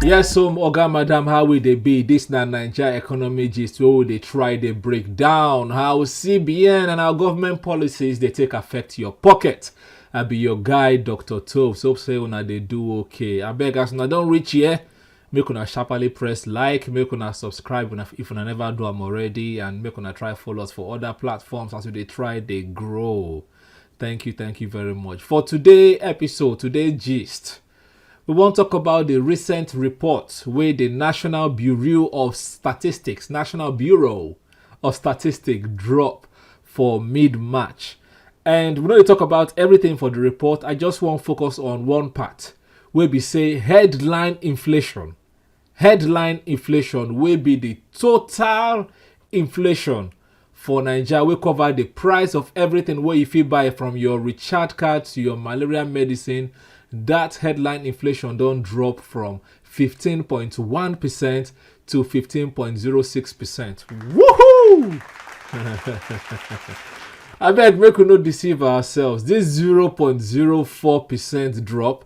yes so oga madam how we dey be dis na naija economy gist wey we dey try dey break down how cbn and our government policies dey take affect your pocket i be your guy dr tobes hope say una dey do okay abeg as una don reach here make una sharply press like make una subscribe una- if una never do am already and make una try follow us for other platforms as we dey try dey grow Thank you, thank you very much. For today episode, today gist, we wan talk about the recent report wey the National Bureau of Statistics, National Bureau of Statistics drop for mid-March. And we no dey talk about everything for the report, I just wan focus on one part wey be say headline inflation headline inflation wey be the total inflation for Naija wey cover the price of everything wey you fit buy from your recharge card to your malaria medicine. That headline inflation don drop from 15.1% to 15.06%. Woohoo! I beg, make we no deceive ourselves. This 0.04% drop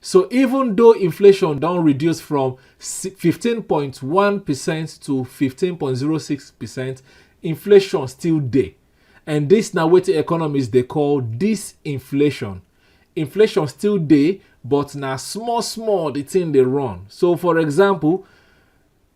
So even though inflation don reduce from 15.1% to 15.06%, inflation still dey. And this na wetin economists dey call disinflation. Inflation still dey, but na small small the thing dey run. So for example,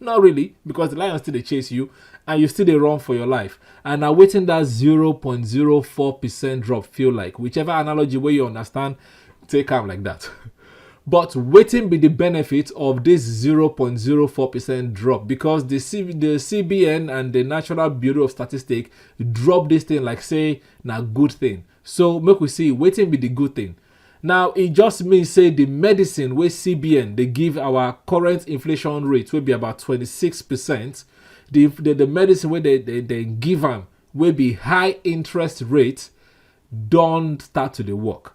not really because the lion still dey chase you and you still dey run for your life and na wetin that 0.04 percent drop feel like whichever analogy wey you understand take am like that but wetin be the benefit of this 0.04 percent drop because the, C the cbn and the national bureau of statistics drop this thing like say na good thing So make we see wetin be di good thing. Now e just mean say di medicine wey CBN dey give our current inflation rate wey be about 26 percent, di di medicine wey dem dem give am wey be high interest rate don start to dey work.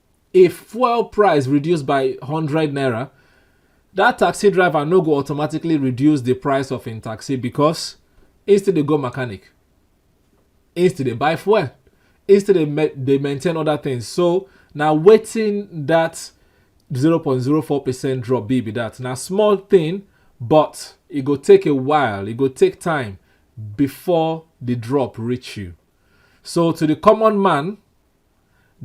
if fuel price reduce by hundred naira that taxi driver no go automatically reduce the price of im taxi because he still dey go mechanic he still dey buy fuel he still dey ma- dey maintain other things so na wetin that zero point zero four percent drop be be that na small thing but e go take a while e go take time before the drop reach you so to the common man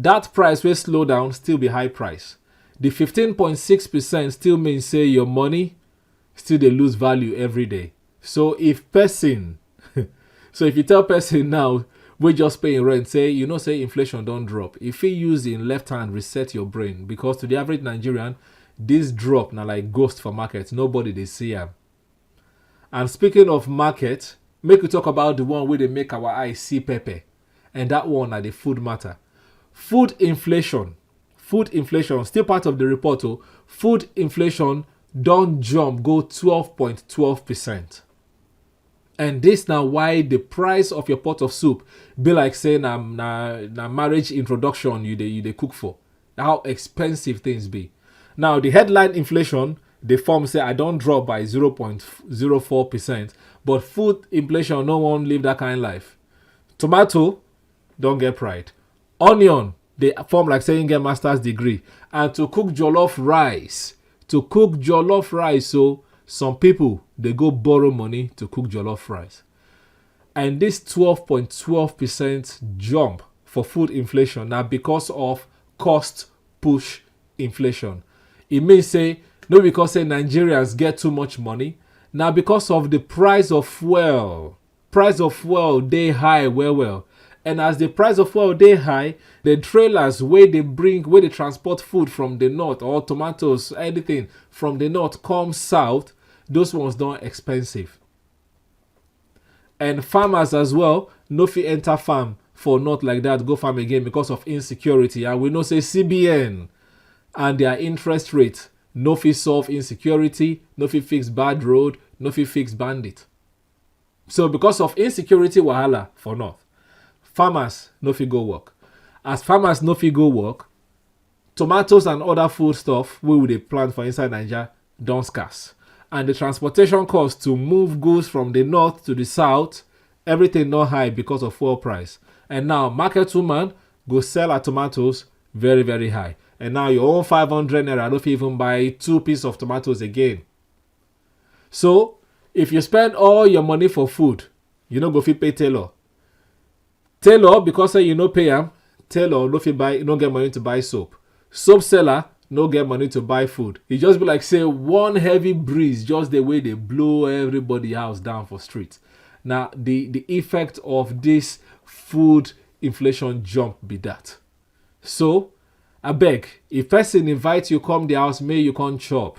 Dat price wey slow down still be high price. Di fifteen point six percent still mean say your money still dey lose value every day. So if pesin so if you tell pesin now wey just pay im rent say you know say inflation don drop, e fit use im left hand reset your brain because to di average Nigerian, dis drop na like ghost for market, nobody dey see am. And speaking of market, make we talk about di one wey dey make our eye see pepper. and that one na the food matter. Food inflation, food inflation, still part of the report, oh, food inflation don't jump go 12.12 percent. and this now why the price of your pot of soup be like say na na na marriage introduction you dey you dey cook for how expensive things be now the headline inflation the form say i don't drop by 0.04 percent but food inflation no one live that kind life tomato don get pride onion dey form like say him get master's degree and to cook jollof rice to cook jollof rice so some people dey go borrow money to cook jollof rice and this 12.12 percent jump for food inflation now because of cost push inflation It means say no because say nigerians get too much money now because of the price of fuel price of fuel dey high well well and as the price of fuel dey high the trailers wey dey bring wey dey transport food from the north or tomatoes anything from the north come south those ones don expensive and farmers as well no fit enter farm for north like that go farm again because of insecurity and we know say cbn and their interest rate no fit solve insecurity no fit fix bad road no fit fix bandit so because of insecurity wahala for north farmers no fit go work as farmers no fit go work tomatoes and other food stuff wey we dey plant for inside naija don scarce and the transportation cost to move goods from the north to the south everything don high because of fuel price and now market woman go sell her tomatoes very very high and now your own 500 naira no fit even buy two piece of tomatoes again So, if you spend all your money for food, you no go fit pay tailor. Tailor, because say you no pay am, tailor no fit buy, no get money to buy soap. Soap seller no get money to buy food. E just be like say one heavy breeze just the way they blow everybody house down for street. Now, the, the effect of this food inflation jump be that. So, I beg, if person invite you come the house, may you come chop.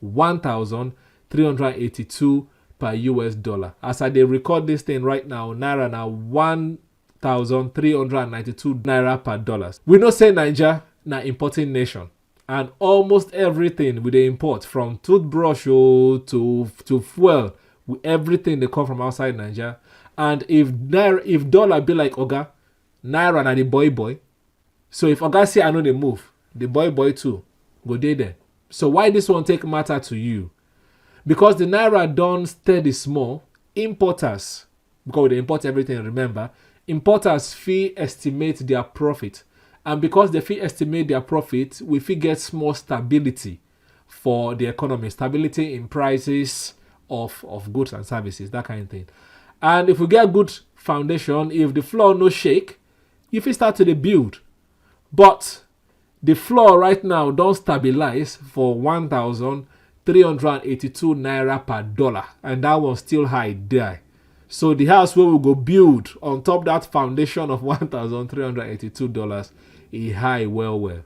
1,382 per US dollar. As I dey record this thing right now, Naira na 1,392 Naira per dollars. We know say Naija na importing nation and almost everything we dey import from toothbrush oh, to, to fuel, we- everything dey come from outside Naija. And if Naira, if dollar be like Oga, Naira na the boy boy, So if Oga say I no dey move, the boy boy too go dey there. So why this one take matter to you? Because the naira don steady small, importers, because we dey import everything, remember, importers fit estimate their profit. And because they fit estimate their profit, we fit get small stability for the economy, stability in prices of, of goods and services, that kind of thing. And if we get good foundation, if the floor no shake, you fit start to dey build but the floor right now don stabilize for 1382 naira per dollar and that one still high there so the house wey we go build on top that foundation of 1382 dollars e high well well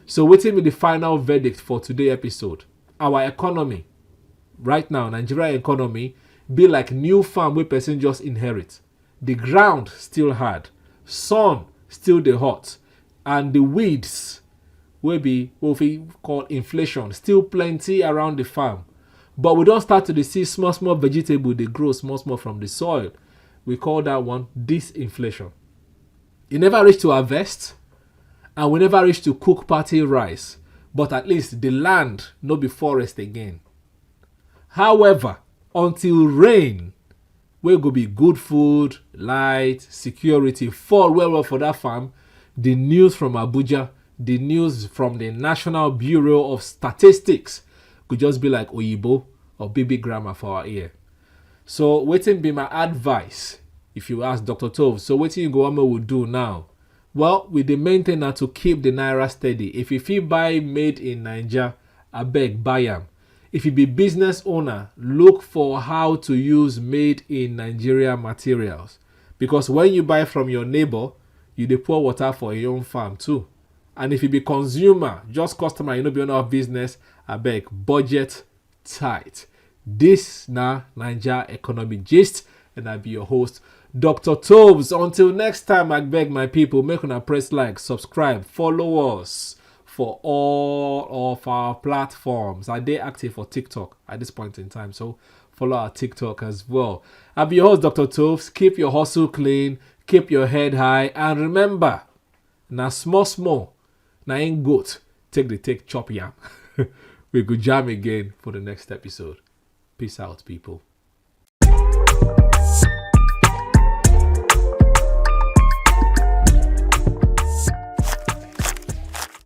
so wetin be the final verdict for today episode our economy right now nigeria economy be like new farm wey person just inherit The ground still hard, sun still dey hot and the weeds wey be wey we fit call inflation still plenty around the farm. But we don start to dey see small small vegetable dey grow small small from the soil. We call that one disinflation. E never reach to harvest and we never reach to cook party rice but at least the land no be forest again. However, until rain wey go be good food, light, security fall well well for that farm, the news from Abuja, the news from the National Bureau of Statistics go just be like Oyibo or baby grammar for our ear. So waiting be my advice if you ask Dr. Tove. So waiting you go on will do now. Well, with the main thing now to keep the Naira steady. If you feel buy made in Niger, I beg buy am. If you be business owner, look for how to use made in Nigeria materials because when you buy from your neighbor, you dey pour water for your own farm too. And if you be consumer, just customer, you no be owner of business, abeg budget tight. This na Naija Economic Gist and I be your host, Dr. Tobes. Until next time, I beg my people, make una press like, subscribe, follow us for all of our platforms. I did active for TikTok at this point in time, so follow our TikTok as well. I'll be your host, Dr. Toves. Keep your hustle clean, keep your head high, and remember, now small, small, now ain't good. Take the take chop yam. we go jam again for the next episode. Peace out, people.